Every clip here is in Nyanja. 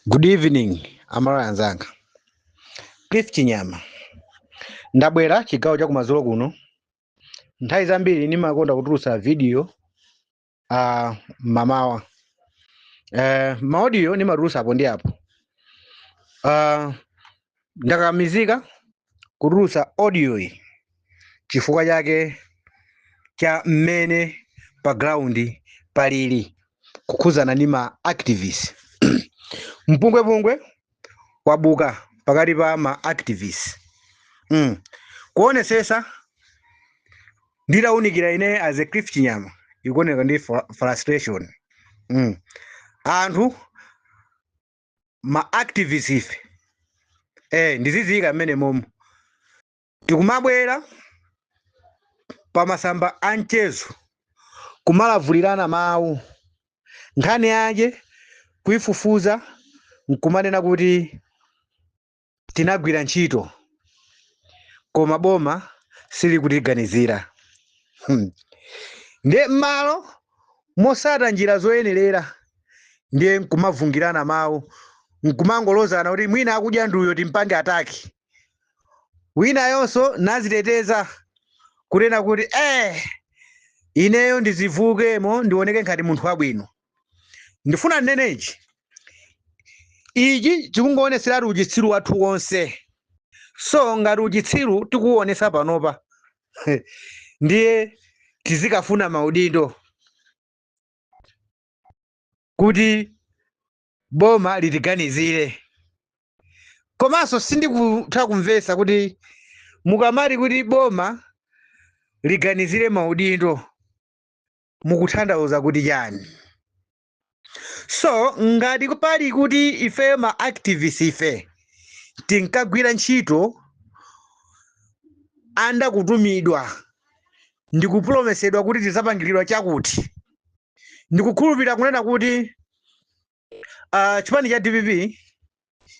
Good evening, Amalawi anzanga. Cliff Chinyama. Ndabwera chigawo cha kumadzulo kuno. Nthawi zambiri ndimakonda kutulutsa video uh, mamawa. Uh, maaudio ndimatulutsa apo ndi apo. Uh, Ndakakamizika kutulutsa audio-yi chifukwa chake cha mmene pa ground palili kukhudzana ndi ma activists. Mpungwepungwe wabuka pakati pa ma activists. Mm. Kuonetsetsa nditaunikira ine as a Cliff Chinyama ikuoneka ndi fr- frustration. Mm. Anthu ma activists ife eh ndiziyika mmenemomo tikumabwera pa masamba a mchezo kumalavulirana mawu nkhani yake kuifufuza nkumanena kuti tinagwira ntchito koma boma silikutiganizira hmm. ndiye m'malo mosata njira zoyenerera ndiye nkumavungirana mawu nkumangolozana kuti mwina akudya nduyo timpange ataki winayonso naziteteza kunena kuti eh ineyo ndizivulemo ndioneke ngati munthu wabwino ndifuna nnene ichi ichi chikungoonetseratu uchitsiru wathu wonse so ngati uchitsiru tikuwonesa panopa ndiye tizikafuna maudindo kuti boma litiganizire komanso sindikutha kumvesa kuti mukamati kuti boma litiganizire maudindo mukutanthauza kuti chani so ngati pali kuti ifeyo ma activist ife tinkagwira ntchito anda kutumidwa ndikupulomesedwa kuti tizapangiridwa chakuti ndikukhulupirira kunena kuti uh, chipani cha dpp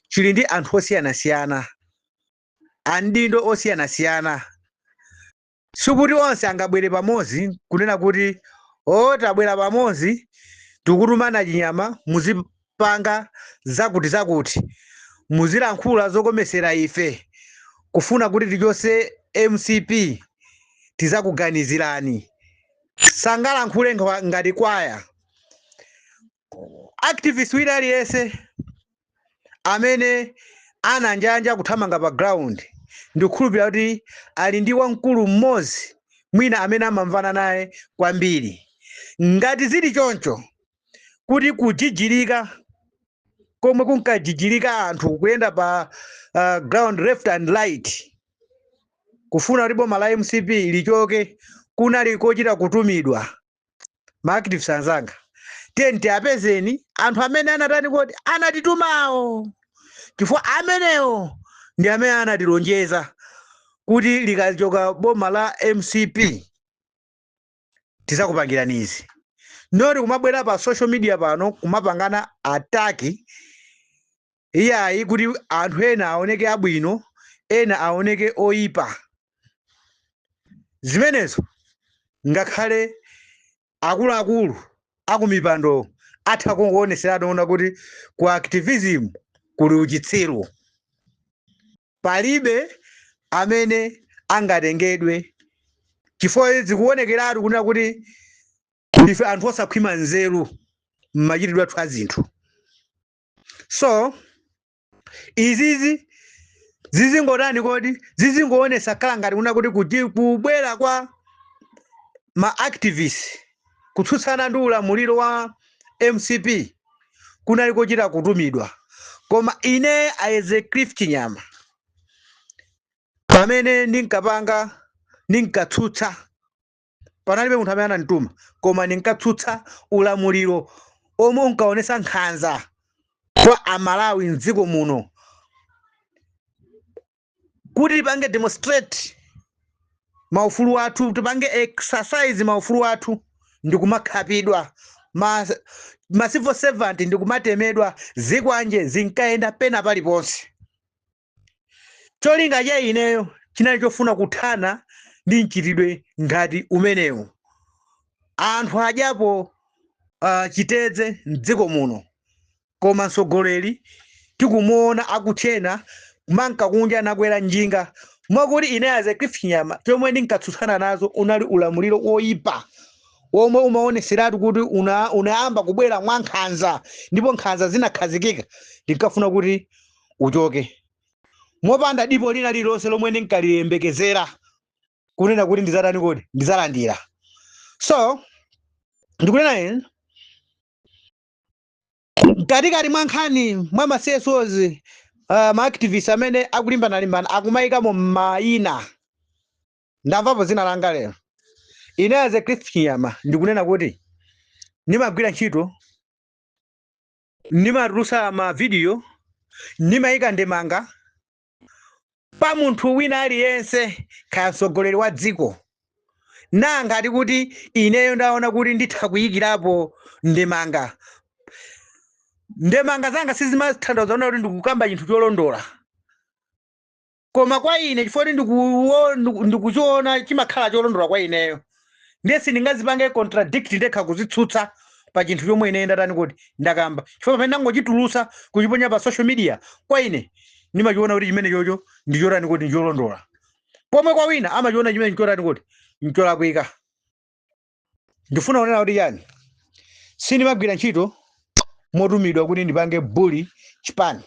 chili ndi anthu osiyanasiyana amaudindo osiyanasiyana Sikuti onse angabwere pamodzi n'kunena kuti, O, tabwera pamodzi, tikutuma a Chinyama, muzipanga zakutizakuti, muzilankhula zokomera ife, kufuna kuti tichotse mcp, tidzakuganizirani. Sangalankhule ngati kwaya. activist wina aliyense amene ananjanja kuthamanga pa ground ndikukhulupirira kuti ali ndi wamkulu mmodzi mwina amene amamvana naye kwambiri ngati zili choncho kuti kujijirika komwe kunkajijirika anthu kuyenda pa uh, ground left and right kufuna kuti boma la mcp lichoke kunali kochita kutumidwa ma activists anzanga tiyeni tiapezeni anthu amene anatani kodi anatitumawo chifukwa amenewo ndi amene anatilonjeza kuti likachoka boma la mcp tizakupangirani izi noti kumabwera pa social media pano kumapangana ataki Iyayi, kuti anthu ena aoneke abwino, ena aoneke oipa. Zimenezo ngakhale akuluakulu akumipando atha kuoneseratu kuona kuti ku activism kuli uchitsiru. Palibe amene angatengedwe chifukwa zikuonekeratu kunena kuti ife anthu osakhwima nzeru m'machitidwe athu a zinthu. so izizi zizingotani kodi zizingoonesa khala ngati kunena kuti kubwera kwa ma activist kutsutsana ndi ulamuliro wa mcp kunali kochita kutumidwa koma ine as a cliff nyama pamene ndinkapanga ndinkatsutsa panalibe munthu amene anandituma koma ndinkatsutsa ulamuliro omwe unkaonesa nkhanza kwa amalawi mdziko muno kuti tipange demonstrate maufulu athu tipange exercise maufulu athu ndikumakhapidwa ma, ma civil servant ndikumatemedwa zikwanje zinkayenda pena paliponse cholinga cha ineyo chinali chofuna kuthana ndi mchitidwe ngati umenewu anthu adyapo uh, chitedze mdziko muno koma mtsogoleri tikumuona akutchena kumanka kunja nakwera njinga mwakuti ine as a Cliff Nyama chomwe ndinkatsutsana nazo unali ulamuliro woyipa omwe umaoneseratu kuti una, unayamba kubwera mwa nkhanza ndipo nkhanza zinakhazikika ndinkafuna kuti uchoke mopanda dipo lina lililonse lomwe ndinkaliyembekezera kunena kuti ndizatani kodi ndizalandira so ndikunena ine mkatikati mwa nkhani mwa ma csos uh, ma activists amene akulimbanalimbana akumayikamo mayina ndamvapo zina langa lero ine as a christian yama ndikunena kuti ndimagwira ntchito ndimatulusa mavidiyo ndimayika ndemanga pa munthu wina aliyense kaya mtsogoleri wa dziko nanga ati kuti ineyo ndaona kuti nditha kuyikirapo ndemanga ndemanga zanga sizimathandauza kuti ndikukamba chinthu cholondola koma kwa ine chifukwa kuti ndikuwo- ndiku- ndikuchiona chimakhala cholondola kwa ineyo ndiye sindingazipange contradict ndekha kuzitsutsa pa chinthu chomwe ine ndatani kuti ndakamba chifukwa pamene ndangochitulusa kuchiponya pa social media kwa ine ndimachiona kuti chimenechocho ndichotani kuti ndicholondola pomwe kwa wina amachiona chimene ndichotani kuti ndicholakwika ndifuna kunena kuti chani sindimagwira ntchito motumidwa kuti ndipange bully chipani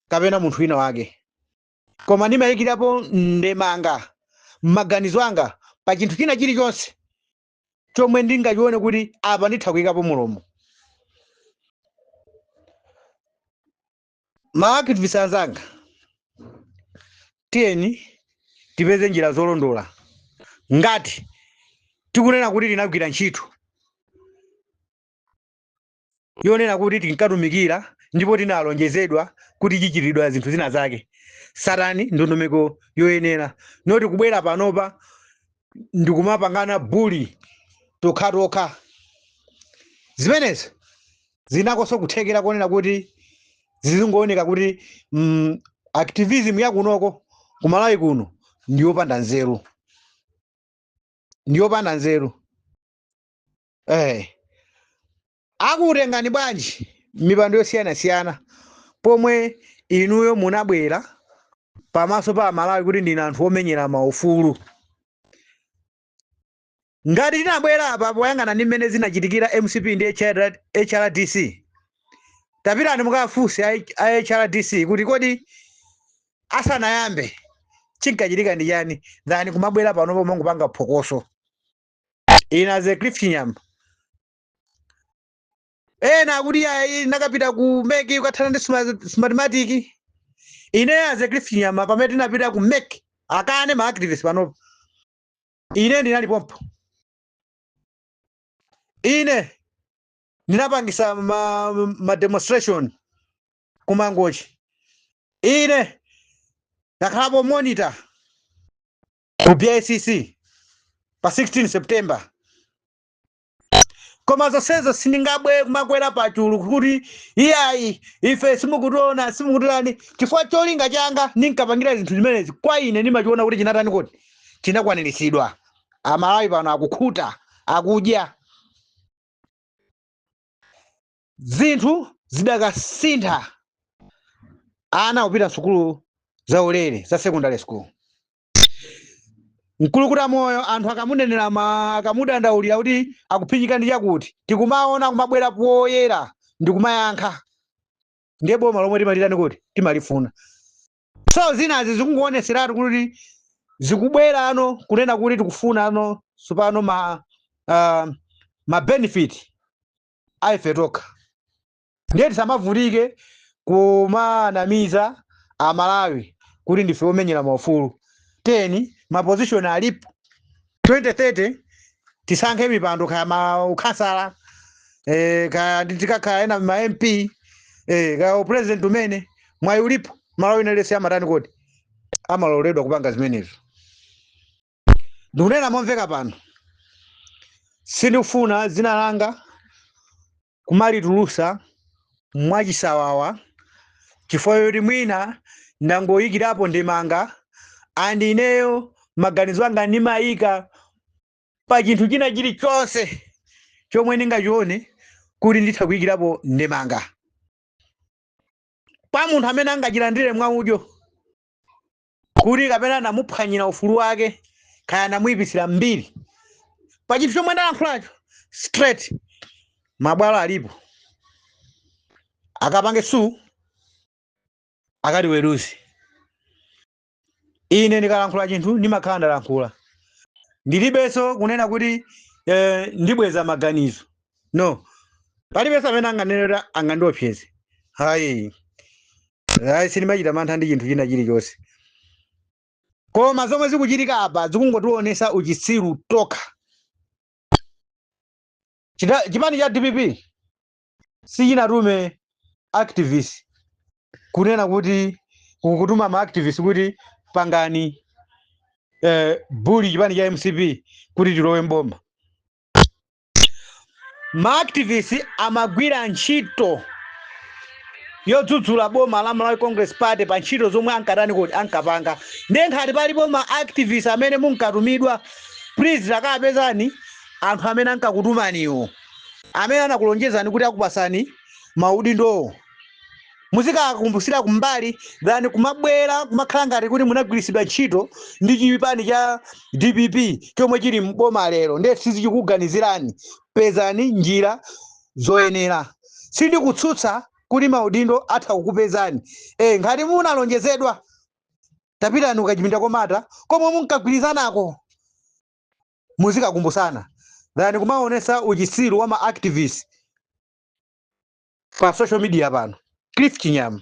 kapena munthu wina wake koma ndimayikirapo ndemanga m'maganizo anga pa chinthu china chilichonse chomwe ndingachione kuti apa nditha kuyikapo mulomo ma activists anzanga tiyeni tipeze njira zolondola ngati tikunena kuti tinagwira ntchito yonena kuti tinkatumikira ndipo tinalonjezedwa kuti tichitiridwa zinthu zina zake tsatani ndondomeko yoyenera not kubwera panopa ndikumapangana bully tokhatokha zimenezo zinakonso kuthekera konena kuti zizingooneka kuti mm, activism yakunoko kumalawi kuno ndiyopanda nzeru ndiyopanda nzeru eh akutengani bwanji m'mipando yosiyanasiyana pomwe inuyo munabwera pamaso pa amalawi kuti ndinu anthu omenyera maufulu ngati tinabwera apa poyang'ana ndi mmene zinachitikira mcp ndi HR hrdc tapitani mukafunse a H- a hrdc kuti kodi asanayambe chinkachitika ndi chani than kumabwera panopo mongopanga phokoso ine as a cliff chinyama ena akuti iyayi nakapita ku meki kukathana ndi sma- smartmatic ine as a cliff chinyama pamene tinapita ku meki akanena ma activist panopo ine ndinali pompo ine ndinapangisa ma, ma demonstration kumangochi ine ndakhalapo monitor ku bicc pa 16 september koma zonsezo sindingayambe kumakwera pachulu kuti iyayi ife simukutiona simukutitani chifukwa cholinga changa ndinkapangira zinthu zimenezi kwa ine ndimachiona kuti chinatani kuti chinakwaniritsidwa amalawi pano akukhuta akudya zinthu zidakasintha ana kupita sukulu za ulere za secondary school mkulukutamoyo anthu akamunenera ma akamudandaulira kuti akuphinyika ndi chakuti tikumaona kumabwera poyera ndi kumayankha ndiye boma lomwe timalitani kuti timalifuna so zinazi zikungoonetseratu kuti zikubwerano kunena kuti tikufunano tsopano ma uh, ma benefit a ife tokha ndiye tisamavutike kumanamiza amalawi kuti ndife omenyera maufulu then mapozishoni alipo 2030 tisankhe mipando kaya maukhansala eh, kaya ndi- tikakhala ena ma mp eh, kaya upresident umene mwayi ulipo mmalawi aliyense amatani kuti amaloledwa kupanga zimenezo ndikunena momveka pano sindikufuna dzina langa kumalitulusa mwachisawawa chifukwa choti mwina ndangoyikirapo ndemanga and ineyo maganizo anga ndimayika pa chinthu china chilichonse chomwe ndingachione kuti nditha kuyikirapo ndemanga pa munthu amene angachilandire mwa udyo kuti kapena anamuphwanyira ufulu wake kaya anamuyipitsira mbiri pa chinthu chomwe ndalankhulacho straight mabwalo alipo akapange sue akatiweruze ine ndikalankhula chinthu ndimakhala ndalankhula ndilibenso kunena kuti eh, ndibweza maganizo no palibenso amene anganenera angandiopseze hayi ayi sindimachita mantha ndi chinthu china chilichonse koma zomwe zikuchitika apa zikungotionesa uchitsiru tokha chipani cha dpp sichinatume activist kunena kuti kutuma ma activist kuti pangani bully chipani cha mcp kuti tilowe mboma ma activist amagwira ntchito yodzudzula boma la Malawi Congress Party pa ntchito zomwe ankatani kodi ankapanga ndiye nkhati palipo ma activist amene munkatumidwa please takapezani anthu amene ankakutumaniwo amene anakulonjezani kuti akupasani maudindowo muzikakumbusira kumbali than kumabwera kumakhala ngati kuti munagwiritsidwa ntchito ndi chipani cha dpp chomwe chili mboma lero ndiye sizichikuganizirani pezani njira zoyenera sindikutsutsa kuti maudindo atha kukupezani e, ngati munalonjezedwa tapitani kuchipinda komata komwe munkagwirizanako muzikakumbusana than kumaonesa uchisiru wa ma activist pa social media pano cliff chinyama